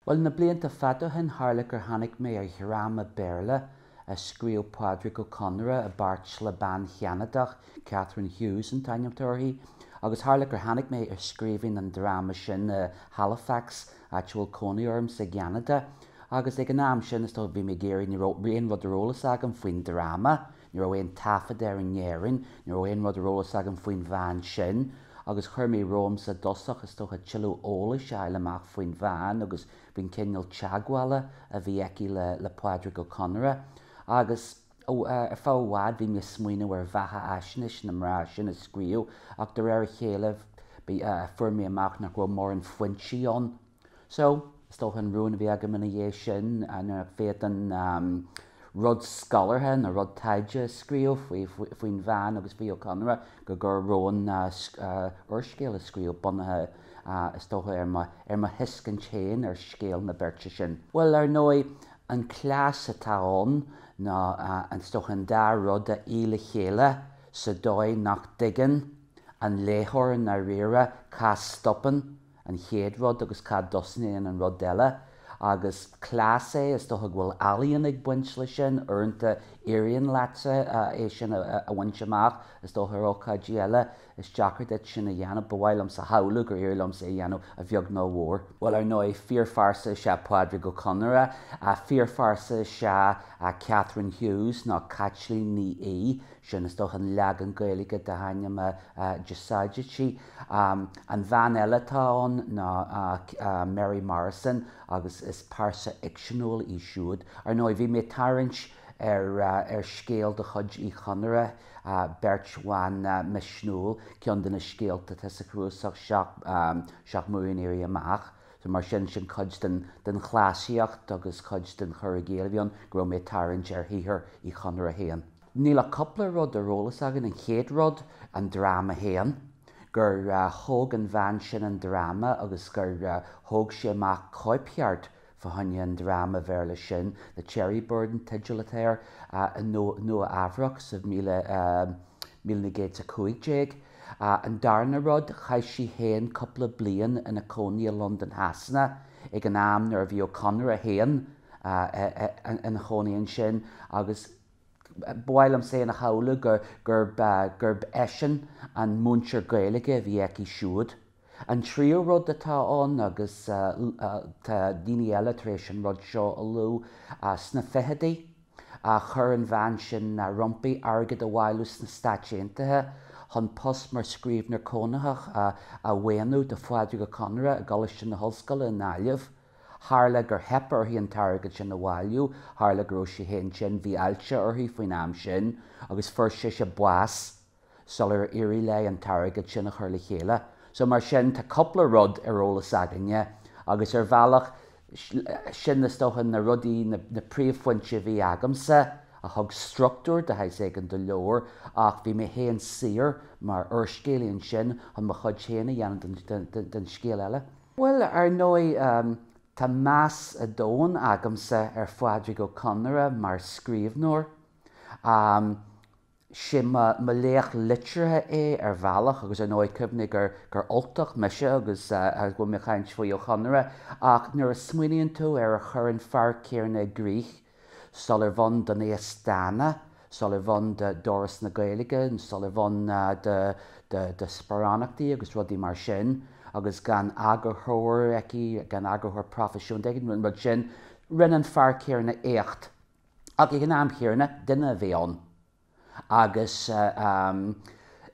Bhuel, na blianta fada ó shin tharla gur tháinig mé ar dhráma Béarla a scríobh Pádraic Ó Conaire i bpáirt le bean Cheanadach, Katherine Hughes an t-ainm atá uirthi, agus tharla gur tháinig mé ar scríbhinn an dráma sin i Halifax, áit a bhfuil cónaí ormsa i gCeanada. Agus ag an am sin, is dóigh, bhí mé ag iarraidh, ní raibh aon rud ar eolas agam faoin dráma, Ní raibh aon taifead air in Éirinn, ní raibh aon rud ar eolas agam faoin bhean sin, agus chuir mé romham sa dtosach is dócha tuilleadh eolais a fháil amach faoin bhean agus faoin gcineál teagmhála a bhí aici le Pádraic Ó Conaire. Agus ar feadh i bhfad bhí mé ag smaoineamh ar bheathaisnéis na mná sin a scríobh ach de réir a chéile fuair mé amach nach raibh mórán foinsí ann So, is dócha an rún a bhí agam ina dhiaidh sin nuair nach bhféadfainn rud scolártha nó rud taighde a scríobh faoin bhean agus faoi Ó Conaire go gcuirfinn romham úrscéal a scríobh bunaithe is dócha ar mo thuiscint féin ar scéal na beirte sin. Bhuel, ar ndóigh, an cleas atá ann ná is dócha an dá rud a fhí le chéile sa dóigh nach dtuigeann an léitheoir i ndáiríre cá stopann an chéad rud agus cá dtosnaíonn an rud eile. Agus cleas é, is dócha go bhfuil ealaíon ag baint leis sin, uaireanta éiríonn leatsa é sin a bhaint amach, is dócha ar ócáidí eile is deacair duit sin a dhéanamh. Ba mhaith liomsa a shamhlú gur éirigh liomsa é a dhéanamh a bheag nó a mhór. Bhuel ar ndóigh fíorphearsa is ea Pádraic Ó Conaire, fíorphearsa is ea Katherine Hughes nó Caitlín Ní Aodha, sin is dócha an leagan Gaeilge dá hainm a d'úsáidtí. An bhean eile atá ann ná Mary Morrison agus is pearsa fhicseanúil í siúd. Ar ndóigh, bhí mé ag tarraingt ar scéal de chuid Uí Chonaire, Beirt Bhan Misniúil, ceann de na scéalta atá sa chnuasach Seacht mBua an Éirí Amach. So mar sin, sin cuid den chleasaíocht agus cuid den chur i gcéill a bhí ann, go raibh mé ag tarraingt ar shaothar Uí Chonaire féin. Níl ach cúpla rud ar eolas againn, an chéad rud, an dráma féin, gur thóg an bhean sin an dráma agus gur thóg sí amach cóipcheart fá choinne an dráma Bhéarla sin, The Cherry Bird an teideal atá air, i Nua Eabhrach sa 1915. An darna rud, chaith sí fhéin cúpla bliain ina cónaí i Londain Shasana ag an am nuair a bhí Ó Conaire féin ina chónaí ansin agus, Ba mhaith liom féin a shamhlú gurb eisean an múinteoir Gaeilge a bhí aici siúd. An tríú rud atá ann, agus tá daoine eile tar éis an rud seo a lua, sna fichidí a chuir an bhean sin roimpi airgead a bhailiú sna Stáit Aontaithe chun post mar scríbhneoir cónaitheach a mhaoiniú do Phádraic Ó Conaire i gColáiste na hOllscoile i nGaillimh. Tharla gur theip uirthi an t-airgead sin a bhailiú, tharla go raibh sí féin tinn, bhí ailse uirthi faoin am sin agus fuair sise bás sular éirigh léi an t-airgead sin a chur le chéile. So mar sin, tá cúpla rud ar eolas againne agus ar bhealach, sin is dócha na rudaí, na príomhphointí a bhí agamsa a thug struchtúr de shaghas éigin do leabhar ach bhí mé féin saor mar úrscéalaí ansin chun mo chuid féin a dhéanamh den scéal eile. Bhuel, ar ndóigh, tá meas domhain agamsa ar Phádraic Ó Conaire mar scríbhneoir. Sé mo laoch liteartha é ar bhealach agus ar ndóigh cuimhnigh gur Ultach mise agus go bhfuil mé ag caint faoi Ó Chonaire ach nuair a smaoiníonn tú ar a chuir an fear céanna i gcrích Sularbh ann don Aosdána, sularbh ann d'Fhoras na Gaeilge, sularbh ann do sparánachtaí agus rudaí mar sin agus gan eagarthóir aige, gan eagarthóir proifisiúnta aige, an rud sin, rinne an fear céanna éacht ach ag an am chéanna, duine a bhí ann. agus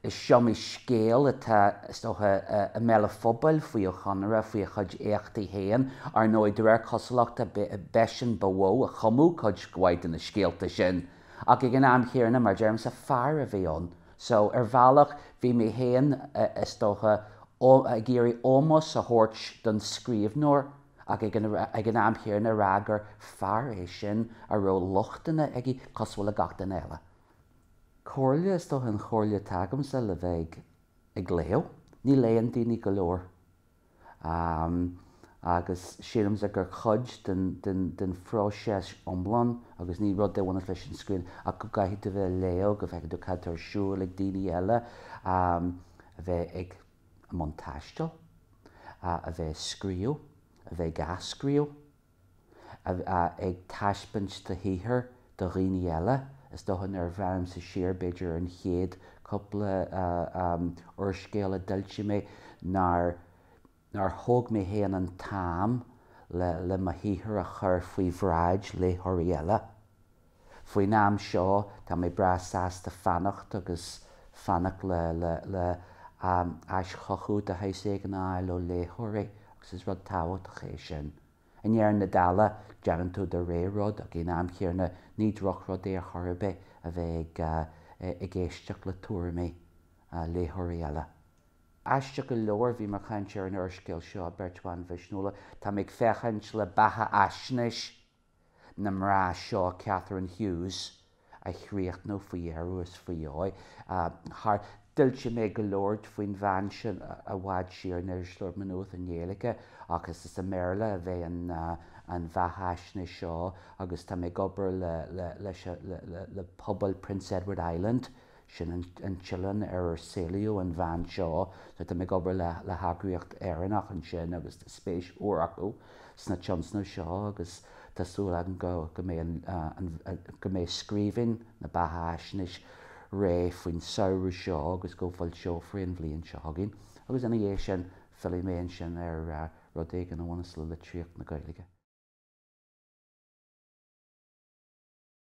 is iomaí scéal atá, is dócha, i mbéal an phobail faoi Ó Conaire, faoina chuid éachtaí féin. Ar ndóigh, de réir cosúlachta, b'eisean ba mhó a chumadh cuid mhaith de na scéalta sin. Ach ag an am chéanna, mar a deirimse, fear a bhí ann. So, ar bhealach, bhí mé féin, is dócha, ag iarraidh ómós a thabhairt don scríbhneoir. ach ag an am chéanna a rá gur fear é sin a raibh lochtanna aige cosúil le gach duine eile. Comhairle, is dócha an chomhairle atá agamsa le bheith ag léamh, ní léann daoine go leor agus sílimse gur cuid den phróiseas iomlán agus ní rud é a bhaineann leis an scríbhinn ach go gcaithfidh tú bheith ag léamh go bhfeice tú cad atá ar siúl ag daoine eile, bheith ag. i mbun taistil, a a bheith ag scríobh, a bheith ag athscríobh, a a ag taispeáint do shaothar do dhaoine eile, is dócha nuair a bhreathnaímse siar b'fhéidir ar an chéad cúpla úrscéal a d'fhoilsigh mé nár nár thóg mé féin an t-am le le mo shaothar a chur faoi bhráid léitheoirí eile. Faoin am seo tá mé breá sásta fanacht agus fanacht le haischothú de shaghas éigin a fháil ó léitheoirí agus is rud tábhachtach é sin. I ndeireadh na dála déanann tú do rogha rud ach san am céanna ní drochrud é ar chor ar bith a bheith ag éisteacht le tuairimí léitheoirí eile. Aisteach go leor bhíomar ag caint ar an úrscéal seo, Beirt Bhan Mhisniúla. Tá mé ag féachaint le beathaisnéis na mná seo, Catherine Hughes, a chríochnú faoi dheireadh is faoi dheoidh. Scríobh mé go leor faoin bhean sin i bhfad siar in Irisleabhar Mhá Nuad i nGaeilge ach is i mBéarla a bheidh an bheathaisnéis seo agus tá mé ag obair le pobal Prince Edward Island Sin an t-oileán ar ar saolaíodh an bhean seo. So tá mé ag obair le heagraíocht Éireannach ansin agus tá spéis mhór acu sa tionscnamh seo agus tá súil agam go mbeidh scríbhinn na beathaisnéise réidh faoin samhradh seo agus go bhfoilseofar í an bhliain seo chugainn agus ina dhiaidh sin fillfidh mé ansin ar rud éigin a bhaineas le litríocht na Gaeilge.